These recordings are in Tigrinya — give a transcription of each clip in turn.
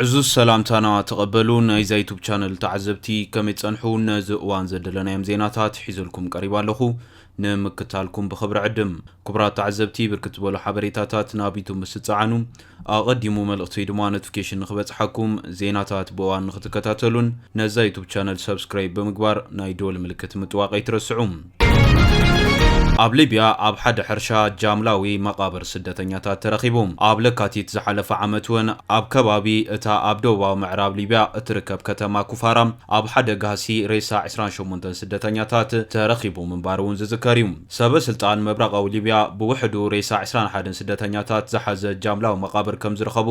ዕዙዝ ሰላምታና ተቐበሉ ናይዛ ዩቱብ ቻነል ተዓዘብቲ ከመይ ጸንሑ ነዚ እዋን ዘደለናዮም ዜናታት ሒዘልኩም ቀሪባ ኣለኹ ንምክታልኩም ብኽብሪ ዕድም ክቡራት ተዓዘብቲ ብርክት ዝበሉ ሓበሬታታት ናብ ዩቱብ ምስ ትጸዓኑ ኣቐዲሙ መልእኽቲ ወይ ድማ ኖቲፊኬሽን ንኽበጽሓኩም ዜናታት ብእዋን ንኽትከታተሉን ነዛ ዩቱብ ቻነል ሰብስክራይብ ብምግባር ናይ ደወል ምልክት ምጥዋቕ ኣይትረስዑ ኣብ ሊብያ ኣብ ሓደ ሕርሻ ጃምላዊ መቓብር ስደተኛታት ተረኺቡ። ኣብ ለካቲት ዝሓለፈ ዓመት እውን ኣብ ከባቢ እታ ኣብ ደቡባዊ ምዕራብ ሊብያ እትርከብ ከተማ ኩፋራ ኣብ ሓደ ጋህሲ ሬሳ ዕስራን ሸሞንተን ስደተኛታት ተረኺቡ ምንባሩ እውን ዝዝከር እዩ። ሰበ ስልጣን ምብራቓዊ ሊብያ ብውሕዱ ሬሳ ዕስራን ሓደን ስደተኛታት ዝሓዘ ጃምላዊ መቓብር ከምዝረኸቡ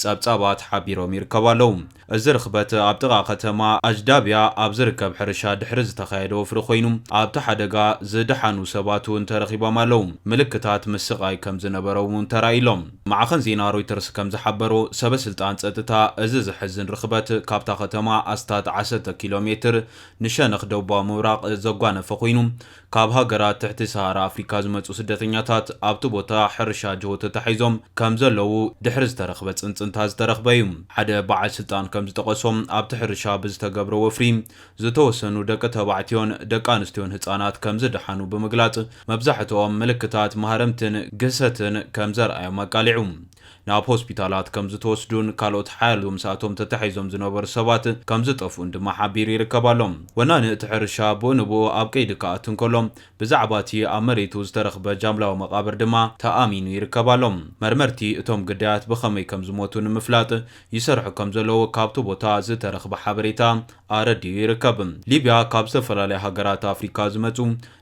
ጸብጻባት ሓቢሮም ይርከቡ ኣለዉ። እዚ ርኽበት ኣብ ጥቓ ከተማ ኣጅዳብያ ኣብ ዝርከብ ሕርሻ ድሕሪ ዝተኻየደ ወፍሪ ኮይኑ፣ ኣብቲ ሓደጋ ዝደሓኑ ሰባት እውን ተረኺቦም ኣለዉ። ምልክታት ምስቓይ ከም ዝነበሮም እውን ተራእዩ ኣሎ። ማዕኸን ዜና ሮይተርስ ከም ዝሓበሮ፣ ሰበስልጣን ጸጥታ እዚ ዘሕዝን ርኽበት ካብታ ከተማ ኣስታት ዓሰርተ ኪሎ ሜትር ንሸነኽ ደቡባዊ ምብራቕ ዘጓነፈ ኮይኑ፣ ካብ ሃገራት ትሕቲ ሰሃራ ኣፍሪካ ዝመፁ ስደተኛታት ኣብቲ ቦታ ሕርሻ ጅሆ ተታሒዞም ከምዘለዉ ድሕሪ ዝተረኽበ ፅንፅንታ ዝተረኽበ እዩ። ሓደ በዓል ስልጣን ከምዝጠቐሶ ኣብቲ ሕርሻ ብዝተገብረ ወፍሪ ዝተወሰኑ ደቂ ተባዕትዮን ደቂ ኣንስትዮን ህፃናት ከምዝደሓኑ ብምግላፅ መብዛሕትኦም ምልክታት ማህረምትን ግህሰትን ከምዘርኣዮም ኣቃሊዑ። ናብ ሆስፒታላት ከምዝተወስዱን ካልኦት ሓያሎ ምስኣቶም ተታሒዞም ዝነበሩ ሰባት ከምዝጠፍኡን ድማ ሓቢሩ ይርከብ ኣሎ። ወናኒ እቲ ሕርሻ ብኡ ንብኡ ኣብ ቀይዲ ክኣቱ እንከሎ፣ ብዛዕባ እቲ ኣብ መሬቱ ዝተረኽበ ጃምላዊ መቓብር ድማ ተኣሚኑ ይርከብ ኣሎ። መርመርቲ እቶም ግዳያት ብኸመይ ከምዝሞቱ ንምፍላጥ ይሰርሑ ከምዘለዉ ካብቲ ቦታ ዝተረኽበ ሓበሬታ ኣረዲኡ ይርከብ። ሊብያ ካብ ዝተፈላለያ ሃገራት ኣፍሪካ ዝመጹ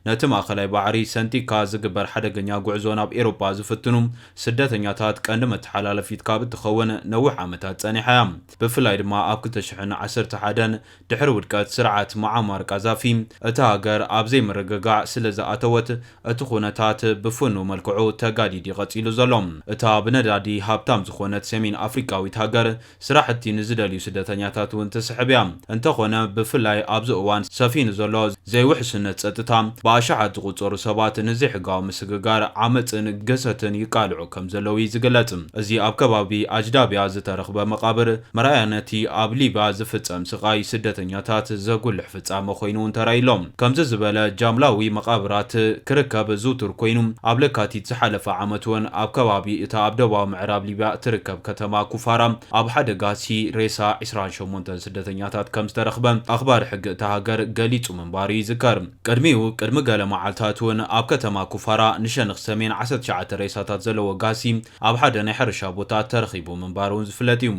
ነቲ ማእከላይ ባሕሪ ሰንጢቕካ ዝግበር ሓደገኛ ጉዕዞ ናብ ኤሮጳ ዝፍትኑ ስደተኛታት ቀንዲ መተሓላለፊት ካብ እትኸውን ነዊሕ ዓመታት ጸኒሓ እያ። ብፍላይ ድማ ኣብ ክልተ ሽሕን ዓሰርተ ሓደን፣ ድሕሪ ውድቀት ስርዓት ሙዓማር ቃዛፊ፣ እታ ሃገር ኣብ ዘይምርግጋዕ ስለ ዝኣተወት፣ እቲ ኵነታት ብፍኑው መልክዑ ተጋዲድ እዩ ቀጺሉ ዘሎ። እታ ብነዳዲ ሃብታም ዝዀነት ሰሜን ኣፍሪቃዊት ሃገር፣ ስራሕቲ ንዝደልዩ ስደተኛታት እውን ትስሕብ እያ። እንተኾነ ብፍላይ ኣብዚ እዋን ሰፊኑ ዘሎ ዘይውሕስነት ፀጥታ ብኣሻሓት ዝቑፀሩ ሰባት ንዘይሕጋዊ ምስግጋር፣ ዓመፅን ግህሰትን ይቃልዑ ከምዘለዉ እዩ ዝግለፅ። እዚ ኣብ ከባቢ ኣጅዳቢያ ዝተረኽበ መቓብር መርኣያ ነቲ ኣብ ሊቢያ ዝፍፀም ስቓይ ስደተኛታት ዘጉልሕ ፍፃመ እዩ። ፍጻመ ኮይኑ እውን ተራእዩ ኣሎ። ከምዚ ዝበለ ጃምላዊ መቓብራት ክርከብ ዝውቱር ኮይኑ፣ ኣብ ለካቲት ዝሓለፈ ዓመት እውን ኣብ ከባቢ እታ ኣብ ደቡባዊ ምዕራብ ሊብያ እትርከብ ከተማ ኩፋራ ኣብ ሓደ ጋህሲ ሬሳ ዕስራን ሸሞንተን ስደተኛታት ከም ዝተረኽበ ኣኽባሪ ሕጊ እታ ሃገር ገሊጹ ምንባሩ ይዝከር። ቅድሚኡ ቅድሚ ገለ መዓልታት እውን ኣብ ከተማ ኩፋራ ንሸንኽ ሰሜን ዓሰርተ ትሽዓተ ሬሳታት ዘለዎ ጋህሲ ኣብ ሓደ ናይ ሕርሻ ቦታ ተረኺቡ ምንባሩ እውን ዝፍለጥ እዩ።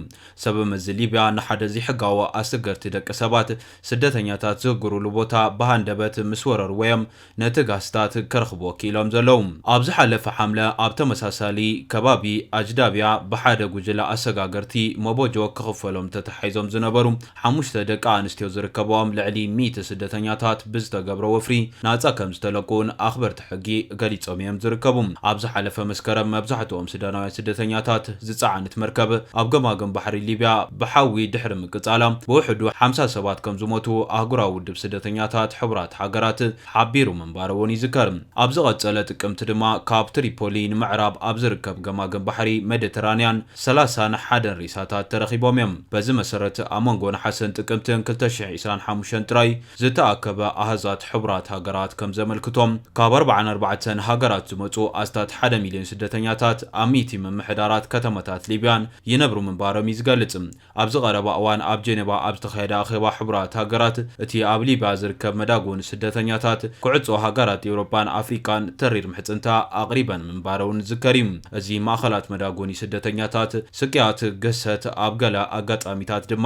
ሰበ መዚ ሊብያ ንሓደ ዘይሕጋዊ ኣሰገርቲ ደቂ ሰባት፣ ስደተኛታት፣ ዝህግሩሉ ቦታ ብሃንደበት ምስ ወረርዎ'ዮም ነቲ ጋስታት ከረኽብዎ ክኢሎም ዘለዉ። ኣብ ዝሓለፈ ሓምለ ኣብ ተመሳሳሊ ከባቢ ኣጅዳብያ ብሓደ ጉጅለ ኣሰጋገርቲ መቦጆ ክኽፈሎም ተተሓሒዞም ዝነበሩ ሓሙሽተ ደቂ ኣንስትዮ ዝርከበኦም ልዕሊ ሚእቲ ስደተኛታት ብዝተገብረ ወፍሪ ናጻ ከምዝተለቁ'ውን ኣኽበርቲ ሕጊ ገሊጾም እዮም ዝርከቡ። ኣብ ዝሓለፈ መስከረም መብዛሕትኦም ሱዳናውያን ስደተኛታት ዝጸዓነት መርከብ ኣብ ገማግም ባሕሪ ሊብያ ብሓዊ ድሕሪ ምቅጻላ ብውሕዱ ሓምሳ ሰባት ከም ዝሞቱ ኣህጉራዊ ውድብ ስደተኛታት ሕቡራት ሃገራት ሓቢሩ ምንባሩ'ውን ይዝከር። ኣብ ዝቐጸለ ጥቅምቲ ድማ ካብ ትሪፖሊ ንምዕራብ ኣብ ዝርከብ ገማግም ባሕሪ መደተራንያን ሰላሳን ሓደን ሬሳታት ተረኺቦም እዮም። በዚ መሰረት ኣብ መንጎ ነሓሰን ጥቅምትን ክልተ ሽሕን ዕስራን ሓሙሽተን ጥራይ ዝተኣከበ ኣሃዛት ሕቡራት ሃገራት ከም ዘመልክቶ፣ ካብ ኣርብዓን ኣርባዕተን ሃገራት ዝመጹ ኣስታት ሓደ ሚልዮን ስደተኛታት ኣብ ሚእቲ ምምሕዳራት ከተማታት ሊብያን ይነብሩ ምንባሮም እዩ ዝገልጽ። ኣብዚ ቀረባ እዋን ኣብ ጀነቫ ኣብ ዝተኻየደ ኣኼባ ሕቡራት ሃገራት፣ እቲ ኣብ ሊብያ ዝርከብ መዳጎ ንስደተኛታት፣ ኩዕጾ ሃገራት ኤውሮጳን ኣፍሪቃን ተሪር ምሕጽንታ ኣቕሪበን ምንባረውን ዝዝከር እዩ። እዚ ማእከላት መዳጎኒ ስደተኛታት፣ ስቅያት፣ ግህሰት፣ ኣብ ገለ ኣጋጣሚታት ድማ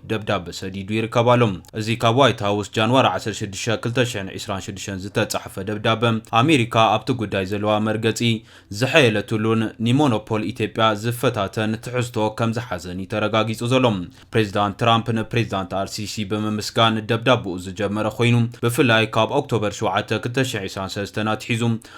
ደብዳበ ሰዲዱ ይርከብ ኣሎ። እዚ ካብ ዋይት ሃውስ ጃንዋሪ ዓሰርተ ሽዱሽተ ክልተ ሽሕን ዕስራን ሽዱሽተን ዝተጻሕፈ ደብዳበ፣ ኣሜሪካ ኣብቲ ጉዳይ ዘለዋ መርገጺ ዘሐየለትሉን ንሞኖፖል ኢትዮጵያ ዝፈታተን ትሕዝቶ ከም ዝሓዘን እዩ ተረጋጊጹ ዘሎ። ፕሬዚዳንት ትራምፕ ንፕሬዚዳንት ኣልሲሲ ብምምስጋን ደብዳበኡ ዝጀመረ ኮይኑ፣ ብፍላይ ካብ ኦክቶበር ሸውዓተ ክልተ ሽሕን ዕስራን ሰለስተን ኣትሒዙ፣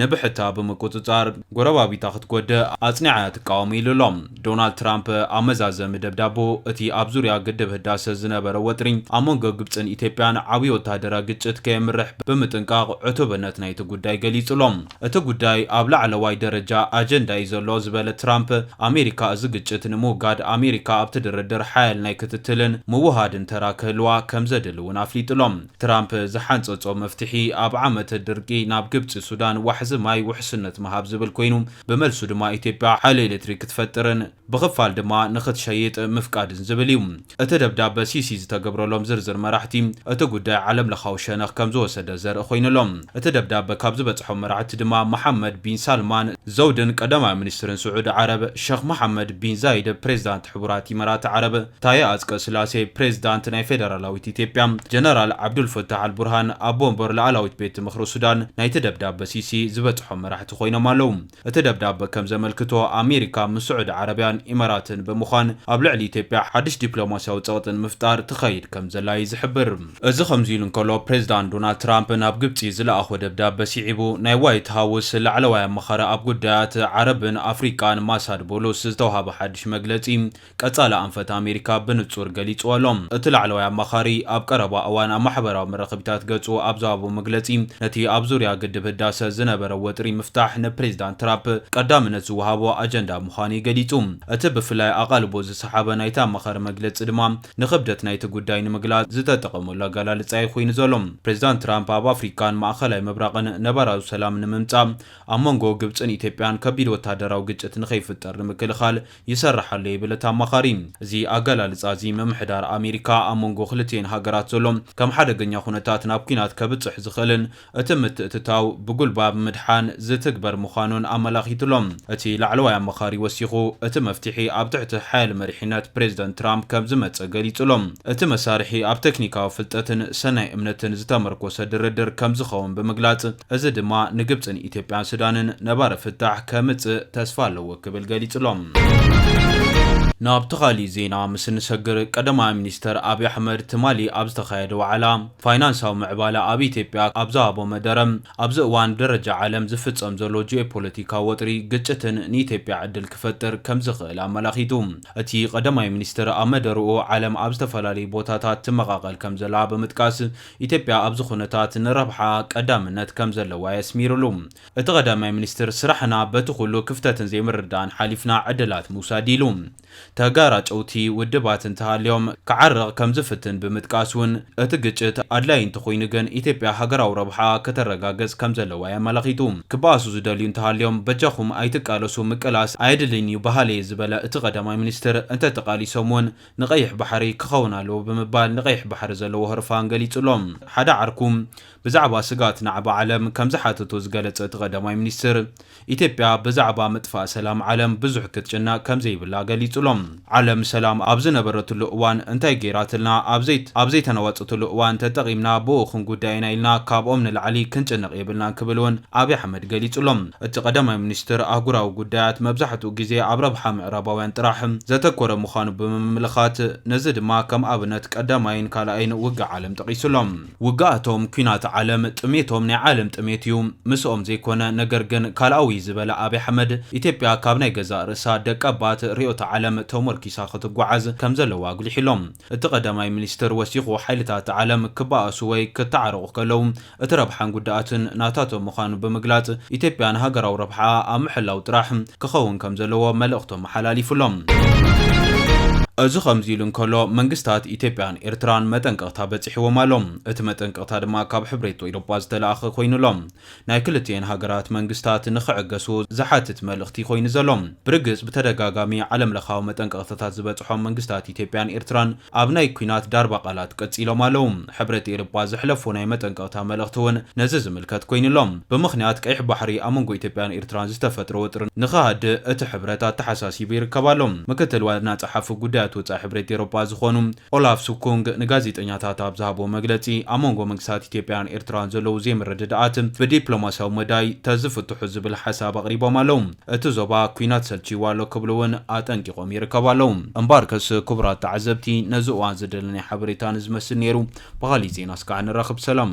ንብሕታ ብምቁጽጻር ጎረባቢታ ክትጎድእ ኣጽኒዓ እያ ትቃወም ኢሉ ኣሎ። ዶናልድ ትራምፕ ኣብ መዛዘሚ ደብዳበኡ፣ እቲ ኣብ ዙርያ ግድብ ህዳሰ ዝነበረ ወጥሪ ኣብ መንጎ ግብጽን ኢትዮጵያን ዓብዪ ወተሃደራዊ ግጭት ከየምርሕ ብምጥንቃቕ ዕቱብነት ናይቲ ጉዳይ ገሊጹ ኣሎ። እቲ ጉዳይ ኣብ ላዕለዋይ ደረጃ ኣጀንዳ እዩ ዘሎ ዝበለ ትራምፕ፣ ኣሜሪካ እዚ ግጭት ንምውጋድ ኣሜሪካ ኣብቲ ድርድር ሓያል ናይ ክትትልን ምውህሃድን ተራ ክህልዋ ከምዘድሊ እውን ኣፍሊጡ ኣሎ። ትራምፕ ዝሓንጸጾ መፍትሒ ኣብ ዓመተ ድርቂ ናብ ግብጺ ሱዳን ዋሕዚ ማይ ውሕስነት ምሃብ ዝብል ኮይኑ፣ ብመልሱ ድማ ኢትዮጵያ ሓይሊ ኤሌክትሪክ ክትፈጥርን ብኽፋል ድማ ንኽትሸይጥ ምፍቃድን ዝብል እዩ። እቲ ደብዳበ ሲሲ ዝተገብረሎም ዝርዝር መራሕቲ እቲ ጉዳይ ዓለምለኻዊ ሸነኽ ከምዝወሰደ ዘርኢ ኮይኑ ኣሎ። እቲ ደብዳበ ካብ ዝበጽሖም መራሕቲ ድማ መሓመድ ቢን ሳልማን ዘውድን ቀዳማይ ሚኒስትርን ስዑዲ ዓረብ ሸኽ መሓመድ ቢን ዛይድ ፕሬዚዳንት ሕቡራት ኢመራት ዓረብ ታየ ኣፅቀስላሴ ፕሬዝዳንት ናይ ፌደራላዊት ኢትዮጵያ ጀነራል ዓብዱልፈታሕ ኣልቡርሃን ኣቦ ወንበር ላኣላዊት ቤት ምኽሪ ሱዳን ናይቲ ደብዳበ ሲሲ ዝበፅሖም መራሕቲ ኮይኖም ኣለው። እቲ ደብዳበ ከም ዘመልክቶ ኣሜሪካ ምስ ስዑዲ ዓረብያን ኢማራትን ብምዃን ኣብ ልዕሊ ኢትዮጵያ ሓድሽ ዲፕሎማሲያዊ ፀቕጢ ንምፍጣር ትኸይድ ከም ዘላ እዩ ዝሕብር። እዚ ከምዚ ኢሉ እንከሎ ፕሬዝዳንት ዶናልድ ትራምፕ ናብ ግብፂ ዝለኣኾ ደብዳበ ሲዒቡ ናይ ዋይት ሃውስ ላዕለዋይ ኣማኻሪ ኣብ ጉዳያት ዓረብን ኣፍሪቃን ማሳድ ቦሎስ ዝተውሃበ ሓድሽ መግለፂ ቀጻሊ ኣንፈት ኣሜሪካ ብንጹር ገሊጽዎ ኣሎ። እቲ ላዕለዋይ ኣማኻሪ ኣብ ቀረባ እዋን ኣብ ማሕበራዊ መራኸቢታት ገጹ ኣብ ዝሃቦ መግለጺ፣ ነቲ ኣብ ዙርያ ግድብ ህዳሰ ዝነበረ ወጥሪ ምፍታሕ ንፕሬዚዳንት ትራፕ ቀዳምነት ዝወሃቦ ኣጀንዳ ምዃኑ'ዩ ገሊጹ። እቲ ብፍላይ ኣቓልቦ ዝሰሓበ ናይቲ ኣማኻሪ መግለጺ ድማ ንኽብደት ናይቲ ጉዳይ ንምግላጽ ዝተጠቐመሉ ኣገላልጻ'ዩ ኹይኑ ዘሎ። ፕሬዚዳንት ትራምፕ ኣብ ኣፍሪካን ማእኸላይ ምብራቕን ነባራዊ ሰላም ንምምጻእ ኣብ መንጎ ግብጽን ኢትዮጵያን ከቢድ ወተሃደራዊ ግጭት ንኸይፍጠር ንምክልኻል ይሰርሕ ኣሎ ይብል እቲ ኣማኻሪ። እዚ ኣገላልጻ እዚ ምምሕዳር ኣሜሪካ ኣብ መንጎ ክልቲኤን ሃገራት ዘሎ ከም ሓደገኛ ኩነታት ናብ ኲናት ከብጽሕ ዝኽእልን እቲ ምትእትታው ብጉልባብ ምድሓን ዝትግበር ምዃኑን ኣመላኺቱ ኣሎ። እቲ ላዕለዋይ ኣማኻሪ ወሲኹ እቲ መፍትሒ ኣብ ትሕቲ ሓያል መሪሕነት ፕሬዝደንት ትራምፕ ከም ዝመጸ ገሊጹ ኣሎ። እቲ መሳርሒ ኣብ ተክኒካዊ ፍልጠትን ሰናይ እምነትን ዝተመርኮሰ ድርድር ከም ዝኸውን ብምግላጽ፣ እዚ ድማ ንግብፅን ኢትዮጵያን ሱዳንን ነባሪ ፍታሕ ከምፅእ ተስፋ ኣለዎ ክብል ገሊፁ'ሎ። ናብቲ ካሊእ ዜና ምስ እንሰግር ቀዳማይ ሚኒስተር ኣብይ ኣሕመድ ትማሊ ኣብ ዝተኻየደ ዋዕላ ፋይናንሳዊ ምዕባለ ኣብ ኢትዮጵያ ኣብ ዝሃቦ መደረ ኣብዚ እዋን ብደረጃ ዓለም ዝፍፀም ዘሎ ጂኦፖለቲካዊ ወጥሪ ግጭትን ንኢትዮጵያ ዕድል ክፈጥር ከምዝኽእል ኣመላኺቱ። እቲ ቀዳማይ ሚኒስትር ኣብ መደርኡ ዓለም ኣብ ዝተፈላለዩ ቦታታት ትመቓቐል ከምዘላ ብምጥቃስ ኢትዮጵያ ኣብዚ ኩነታት ንረብሓኣ ቀዳምነት ከምዘለዋ የስሚርሉ እቲ ቀዳማይ ሚኒስትር። ስራሕና በቲ ኩሉ ክፍተትን ዘይምርድዳእን ሓሊፍና ዕድላት ምውሳድ ኢሉ። ተጋራጨውቲ ውድባት እንተሃልዮም ክዓርቕ ከምዝፍትን ብምጥቃስ እውን እቲ ግጭት ኣድላይ እንተኾይኑ ግን ኢትዮጵያ ሃገራዊ ረብሓኣ ከተረጋግፅ ከምዘለዋ የመላኺቱ። ክበኣሱ ዝደልዩ እንተሃልዮም በጃኹም ኣይትቃለሱ ምቅላስ ኣየድልይን እዩ በሃሊ'የ ዝበለ እቲ ቀዳማይ ሚኒስትር እንተተቓሊሶም እውን ንቀይሕ ባሕሪ ክኸውን ኣለዎ ብምባል ንቀይሕ ባሕሪ ዘለዎ ህርፋን ገሊጹ ኣሎ። ሓደ ዓርኩ ብዛዕባ ስግኣት ናዕቢ ዓለም ከምዝሓተቶ ዝገለጸ እቲ ቀዳማይ ሚኒስትር፣ ኢትዮጵያ ብዛዕባ ምጥፋእ ሰላም ዓለም ብዙሕ ክትጭነቕ ከምዘይብላ ገሊጹ ኣሎ። ዓለም ሰላም ኣብ ዝነበረትሉ እዋን እንታይ ገይራትልና፣ ኣብ ዘይተናወጸትሉ እዋን ተጠቒምና ብኡ ክንጉዳእ ኢና ኢልና ካብኦም ንላዕሊ ክንጭነቕ የብልናን ክብል እውን ኣብይ ኣሕመድ ገሊጹ ኣሎ። እቲ ቀዳማይ ሚኒስትር ኣህጉራዊ ጉዳያት መብዛሕትኡ ግዜ ኣብ ረብሓ ምዕራባውያን ጥራሕ ዘተኮረ ምዃኑ ብምምልኻት፣ ነዚ ድማ ከም ኣብነት ቀዳማይን ካልኣይን ውግእ ዓለም ጠቒሱ ኣሎ። ውግኣቶም ኲናት ዓለም፣ ጥሜቶም ናይ ዓለም ጥሜት እዩ፣ ምስኦም ዘይኮነ። ነገር ግን ካልኣዊ እዩ ዝበለ ኣብይ ኣሕመድ፣ ኢትዮጵያ ካብ ናይ ገዛእ ርእሳ ደቀባት ርእዮተ ዓለም ተሞርኪሳ ክትጓዓዝ ከም ዘለዋ ኣጉሊሑ ኣሎ። እቲ ቀዳማይ ሚኒስትር ወሲኹ ሓይልታት ዓለም ክበኣሱ ወይ ክተዓረቑ ከለዉ እቲ ረብሓን ጉድኣትን ናታቶም ምዃኑ ብምግላፅ ኢትዮጵያ ንሃገራዊ ረብሓኣ ኣብ ምሕላው ጥራሕ ክኸውን ከምዘለዎ መልእኽቱ ኣመሓላሊፉ ኣሎ። እዚ ከምዚ ኢሉ እንከሎ መንግስታት ኢትዮጵያን ኤርትራን መጠንቀቕታ በፂሕዎም ኣሎ። እቲ መጠንቀቕታ ድማ ካብ ሕብሬቶ ኢሮጳ ዝተለኣኸ ኮይኑ ኣሎ። ናይ ክልቲኤን ሃገራት መንግስታት ንክዕገሱ ዝሓትት መልእኽቲ ኮይኑ ዘሎ። ብርግፅ ብተደጋጋሚ ዓለም ለኻዊ መጠንቀቕታታት ዝበፅሖም መንግስታት ኢትዮጵያን ኤርትራን ኣብ ናይ ኩናት ዳርባ ቃላት ቀጺሎም ኣለዉ። ሕብረት ኤርጳ ዘሕለፎ ናይ መጠንቀቕታ መልእኽቲ ውን ነዚ ዝምልከት ኮይኑ ኣሎ። ብምኽንያት ቀይሕ ባሕሪ ኣብ መንጎ ኢትዮጵያን ኤርትራን ዝተፈጥረ ወጥሪ ንኽሃድእ እቲ ሕብረት ኣተሓሳሲቡ ይርከብ ኣሎ። ምክትል ዋና ጸሓፊ ጉዳያት ወጻኢ ሕብረት ኤሮጳ ዝኾኑ ኦላፍ ስኩንግ ንጋዜጠኛታት ኣብ ዝሃብዎ መግለጺ ኣብ መንጎ መንግስታት ኢትዮጵያን ኤርትራን ዘለዉ ዘይምርድዳኣት ብዲፕሎማስያዊ መዳይ ተዝፍትሑ ዝብል ሓሳብ ኣቕሪቦም ኣለዉ። እቲ ዞባ ኲናት ሰልችይዎ ኣሎ ክብሉ እውን ኣጠንቂቖም ይርከቡ ኣለዉ። እምበኣርከስ ክቡራት ተዓዘብቲ ነዚ እዋን ዝደለናዮ ሓበሬታ ንዝመስል ነይሩ። ብኻሊእ ዜና እስካዕ ንራኽብ ሰላም።